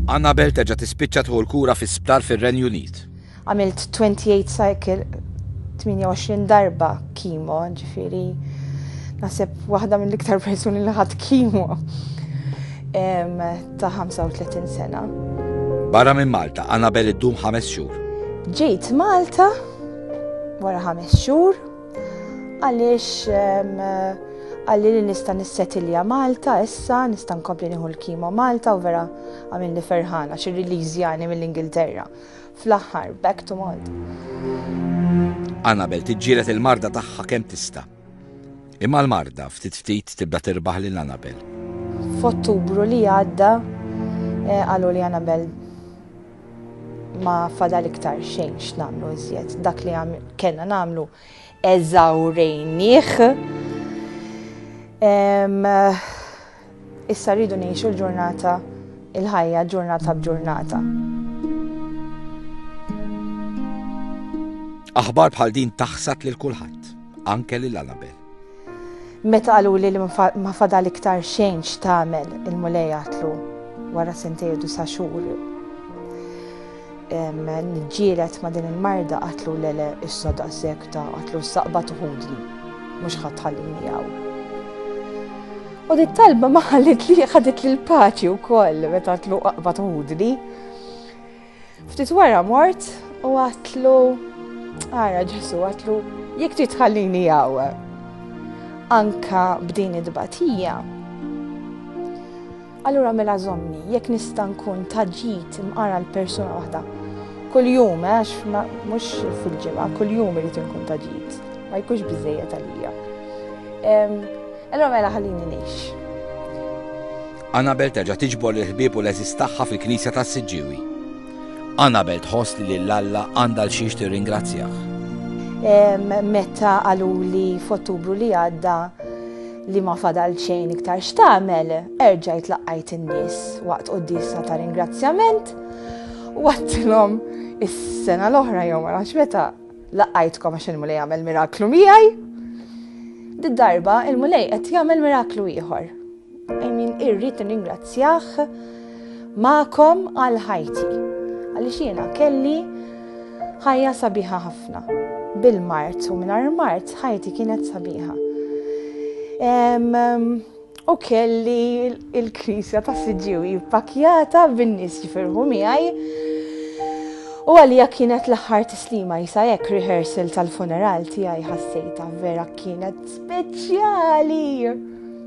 Annabel terġa' tispiċċa tħu l-kura fi sptar fir-Renju Unit. Għamilt 28 cycle 28 darba kimo, ġifiri nasib waħda mill-iktar persuni li ħadd kimo ta' 35 sena. Barra minn Malta, Annabel iddum ħames xhur. Ġejt Malta wara ħames xhur Għaliex għalli li nista' nissetilja Malta issa, nista' nkompli nieħu l-kimo Malta u vera għamilni ferħana xi release jani mill-Ingilterra. Fl-aħħar, back to Malta. Annabel tiġġielet il-marda tagħha kemm tista'. Imma l-marda ftit ftit tibda tirbaħ lil Annabel. F'Ottubru li għadda eh, qalu li Annabel ma fadal iktar xejn x'nagħmlu iżjed. Dak li kellna nagħmlu eżawrejnieh. Issa rridu ngħixu l-ġurnata il-ħajja ġurnata b'ġurnata. Aħbar bħal din taħsad lil kulħadd, anke lil Annabel. Meta qaluli li ma fadal iktar xejn x'tagħmel, il-Mulej għatlu wara sentej u disa' xhur nġielet ma' din il-marda qatlu lele issa daqshekk ta' qatlu s-saqba tuħudli mhux ħadd ħallini hawn. U dit talba ma ħallit li ħadet lil paċi wkoll meta tlu qaqba tuħudli. Ftit wara mort u għatlu, ara Ġesu għatlu, jek trid tħallini jaw. Anka b'din id-batija. Allura mela zomni, jekk nista' nkun taġġit imqara l-persuna waħda. Kull jum, eh, għax mhux fil-ġimgħa, kull jum irid inkun taġġit. Ma jkunx biżejjed għalija. Allura mela ħallini ngħix. Anabel terġa' tiġbor lill-ħbieb u l-għeżież tagħha fil-knisja tas-Siġġiewi. Anabel tħoss li lil Alla għandha għal xiex tirringrazzjah. Meta qaluli f'Ottubru li għadda li ma fadal xejn iktar x'tagħmel, erġajt laqqajt in-nies waqt quddiesa ta' ringrazzjament u għattilhom is-sena l-oħra jew ma nafx meta laqqajtkom għax il-mulej jagħmel miraklu miegħi. Did-darba il-mulej qed jagħmel miraklu ieħor. I mean, irrid ningrazzjah ma'kom għal ħajti. Għaliex jiena kelli ħajja sabiħa ħafna. Bil-mart u minar mart ħajti kienet sabiħa. U kelli il-krisja ta' siġiwi jippakjata bin-nies jifirħu miegħi. U għalija kienet l-aħħar tislima jisa hekk rehearsal tal-funeral tiegħi ħassejta vera kienet speċjali.